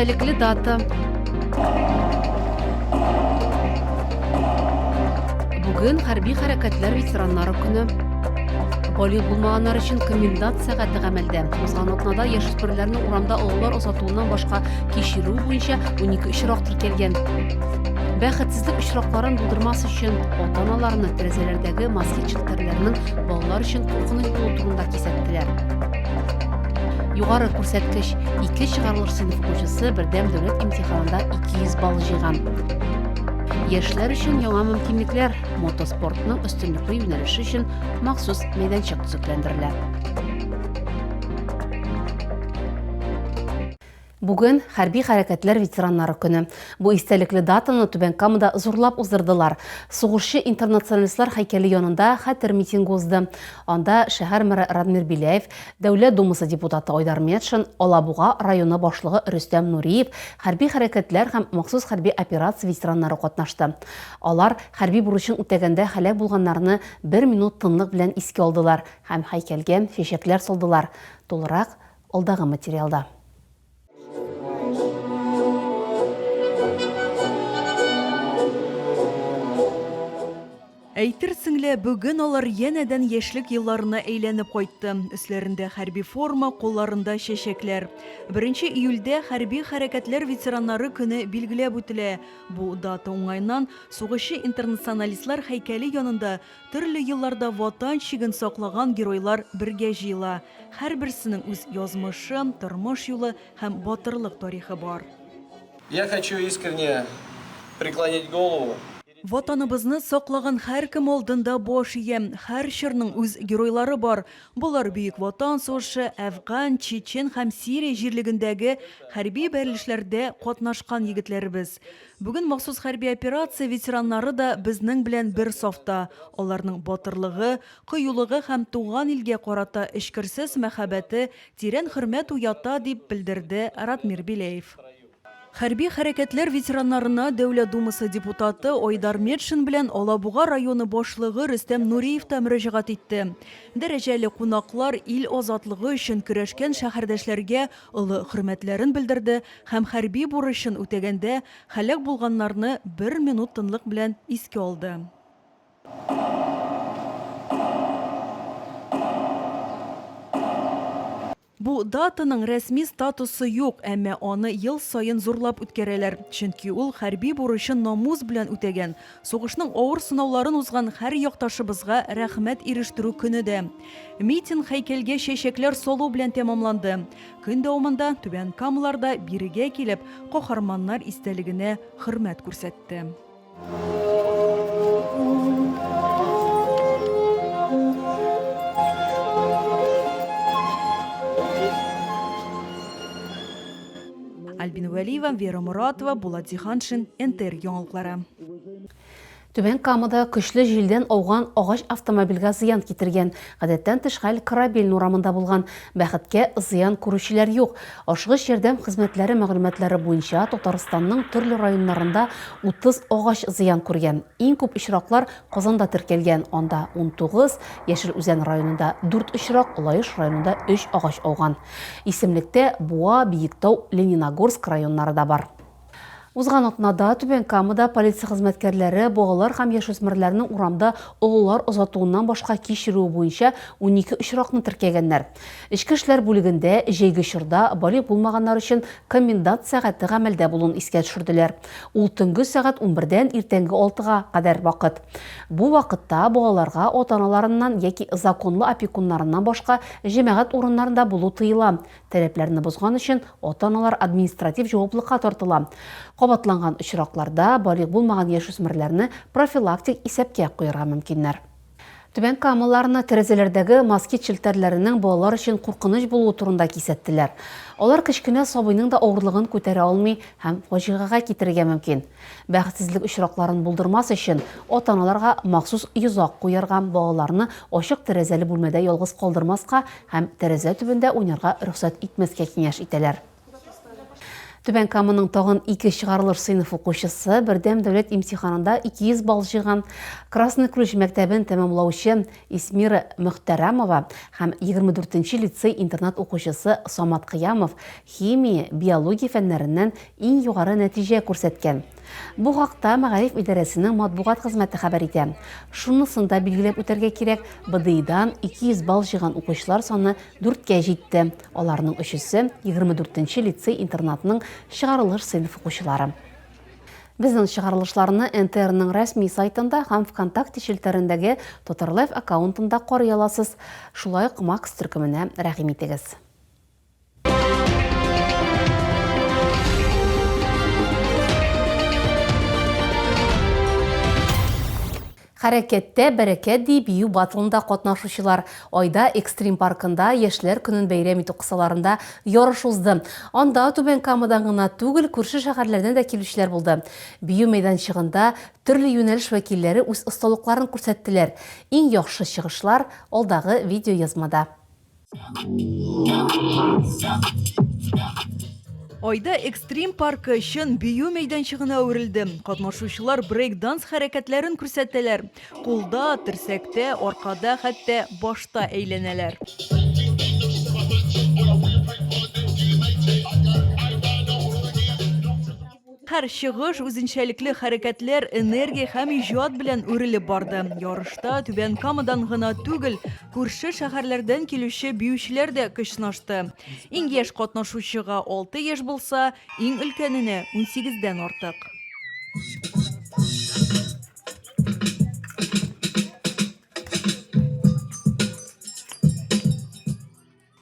истәлекле дата. Бүген хәрби хәрәкәтләр ветераннары көне. Бали булмаганнар өчен комендант сәгате гамәлдә. Узган атнада яшүсмерләрне урамда олылар озатуыннан башка кичерү буенча 12 очрак теркәлгән. Бәхетсезлек очракларын булдырмас өчен ата-аналарны тәрәзәләрдәге москит фикерләрнең балалар өчен куркыныч булу турында кисәттеләр. Югары күрсәткеч ике чыгарылыш сыйныф укучысы бердәм дәүләт имтиханында 200 балл җыйган. Яшьләр өчен яңа мөмкинлекләр мотоспортның өстенлекле юнәлеше өчен махсус мәйданчык төзекләндерелә. Бүген, хәрби хәрәкәтләр ветераннары көне. Бу истәлекле датаны Түбән Камада зурлап уздырдылар. Сугышчы-интернационалистлар һәйкәле янында хәтер митингы узды. Анда шәһәр мэры Радмир Беляев, Дәүләт Думасы депутаты Айдар Метшин, Алабуга районы башлыгы Рөстәм Нуриев, хәрби хәрәкәтләр һәм махсус хәрби операция ветераннары катнашты. Алар хәрби бурычын үтәгәндә һәлак булганнарны бер минут тынлык белән искә алдылар һәм һәйкәлгә чәчәкләр салдылар. Тулырак алдагы материалда. Әйтерсең лә, бүген алар янәдән яшьлек елларына әйләнеп кайтты. Өсләрендә хәрби форма, кулларында чәчәкләр. Беренче июльдә хәрби хәрәкәтләр ветераннары көне билгеләп үтелә. Бу дата уңаеннан сугышчы-интернационалистлар һәйкәле янында Төрле елларда Ватан чиген саклаган геройлар бергә җыела. Һәрберсенең үз язмышы, тормыш юлы һәм батырлык тарихы бар. Я хочу искренне преклонить голову. Ватаныбызны саклаган һәркем алдында баш иям. Һәр чорның үз геройлары бар. Болар Бөек Ватан сугышы, Әфган, Чечен һәм Сирия җирлегендәге хәрби бәрелешләрдә катнашкан егетләребез. Бүген махсус хәрби операция ветераннары да безнең белән бер сафта. Аларның батырлыгы, кыюлыгы һәм туган илгә карата эчкерсез мәхәббәте тирән хөрмәт уята, дип белдерде Радмир Беляев. Хәрби хәрәкәтләр ветераннарына Дәүләт Думасы депутаты Айдар Метшин белән Алабуга районы башлыгы Рөстәм Нуриев та мөрәҗәгать итте. Дәрәҗәле кунаклар ил азатлыгы өчен көрәшкән шәһәрдәшләргә олы хөрмәтләрен белдерде һәм хәрби бурычын үтәгәндә һәлак булганнарны бер минут тынлык белән искә алды. Бу датаның рәсми статусы юк, әмма аны ел саен зурлап үткәрәләр, чөнки ул хәрби бурычын намус белән үтәгән, сугышның авыр сынауларын узган һәр якташыбызга рәхмәт ирештерү көне дә. Митинг һәйкәлгә чәчәкләр салу белән тәмамланды. Көн дәвамында Түбән Камлар да бирегә килеп, каһарманнар истәлегенә хөрмәт күрсәтте. Альбина Вәлиева, Вера Моратова, Булат Зиһаншин, НТР яңалыклары. Түбән Камада көчле җилдән ауган агач автомобильгә зыян китергән. Гадәттән тыш хәл Корабельный урамында булган. Бәхеткә, зыян күрүчеләр юк. Ашыгыч ярдәм хезмәтләре мәгълүматлары буенча, Татарстанның төрле районнарында 30 агач зыян күргән. Иң күп очраклар Казанда теркәлгән, анда, унтугыз, Яшел Үзән районында, дүрт очрак, Лаеш районында өч агач ауган. Исемлектә Буа, Биектау, Лениногорск районнары да бар. Узган атнада Түбән Камада полиция хезмәткәрләре балалар һәм яшүсмерләрнең урамда олылар озатуыннан башка кич йөрүе буенча унике очракны теркәгәннәр. Эчке эшләр бүлегендә җәйге чорда балигъ булмаганнар өчен комендант сәгате гамәлдә булуын искә төшерделәр. Ул төнге сәгать унбердән иртәнге алтыга кадәр вакыт. Бу вакытта балаларга ата-аналарыннан яки законлы опекуннарыннан башка җәмәгать урыннарында булу тыела, Таләпләрне бозган өчен ата-аналар административ җаваплыкка тартыла. Кабатланган очракларда балигъ булмаган яшүсмерләрне профилактик исәпкә куярга мөмкиннәр. Түбән Камаларны тәрәзәләрдәге москит челтәрләренең балалар өчен куркыныч булуы турында кисәттеләр. Алар кечкенә сабыйның да авырлыгын күтәрә алмый һәм фаҗигагә китерергә мөмкин. Бәхетсезлек очракларын булдырмас өчен, ата-аналарга махсус йозак куярга, балаларны ачык тәрәзәле бүлмәдә ялгыз калдырмаска һәм тәрәзә төбендә уйнарга рөхсәт итмәскә киңәш итәләр. Түбән Каманың тагын ике чыгарылыш сыйныф укучысы, Бердәм дәүләт имтиханында 200 балл җыйган Красный Ключ мәктәбен тәмамлаучы Исмира Мөхтәрамова һәм егерме дүртенче лицей-интернат укучысы Самат Кыямов химия, биология фәннәреннән иң югары нәтиҗә күрсәткән. Бу хакта мәгариф идарәсенең матбугат хезмәте хәбәр итә. Шунысын да билгеләп үтәргә кирәк, БДИдан 200 балл җыйган укучылар саны дүрткә җитте, аларның өчесе, егерме дүртенче лицей-интернатның чыгарылыш сыйныф укучылары. Безнең чыгарылышларны НТРның рәсми сайтында һәм ВКонтакте челтәрендәге Татарлайф аккаунтында карый аласыз. Шулай ук Макс төркеменә рәхим итегез. Хәрәкәттә, бәрәкәт, ди бию батлында катнашучылар. Айда экстрим паркында Яшьләр көнен бәйрәм итү кысаларында ярыш узды. Анда Түбән Камадан гына түгел, күрше шәһәрләрдән дә килүчеләр булды. Бию мәйданчыгында төрле юнәлеш вәкилләре үз осталыкларын күрсәттеләр. Иң яхшы чыгышлар алдагы видеоязмада. Айда экстрим паркы чын бию мәйданчыгына әверелде. Катнашучылар брейк-данс хәрәкәтләрен күрсәтәләр. Кулда, терсәктә, аркада, хәтта башта әйләнәләр. Һәр чыгыш үзенчәлекле хәрәкәтләр, энергия һәм иҗат белән үрелеп барды. Ярышта Түбән Камадан гына түгел, күрше шәһәрләрдән килүче биючеләр дә көч сынашты. Иң яшь катнашучыга, алты яшь булса, иң өлкәненә, унсигездән артык.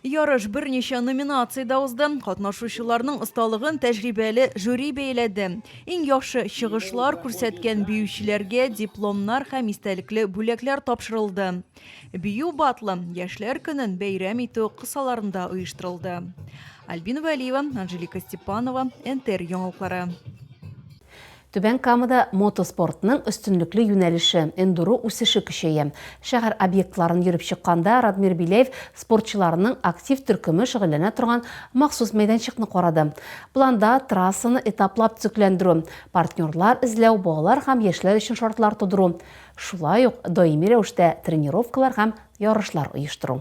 Ярыш берничә номинациядә узды. Катнашучыларның осталыгын тәҗрибәле жюри бәяләде. Иң яхшы чыгышлар күрсәткән биючеләргә дипломнар һәм истәлекле бүләкләр тапшырылды. Бию батлы Яшьләр көнен бәйрәм итү кысаларында оештырылды. Альбина Вәлиева, Анжелика Степанова, НТР яңалыклары. Түбән Камада мотоспортның өстенлекле юнәлеше, эндуро үсеше көчәя. Шәһәр объектларын йөреп чыкканда Радмир Беляев спортчыларның актив төркеме шөгыльләнә торган махсус мәйданчыкны карады. Планда трассаны этаплап төзекләндерү, партнерлар эзләү, балалар һәм яшьләр өчен шартлар тудыру, шулай ук даими рәвештә тренировкалар һәм ярышлар оештыру.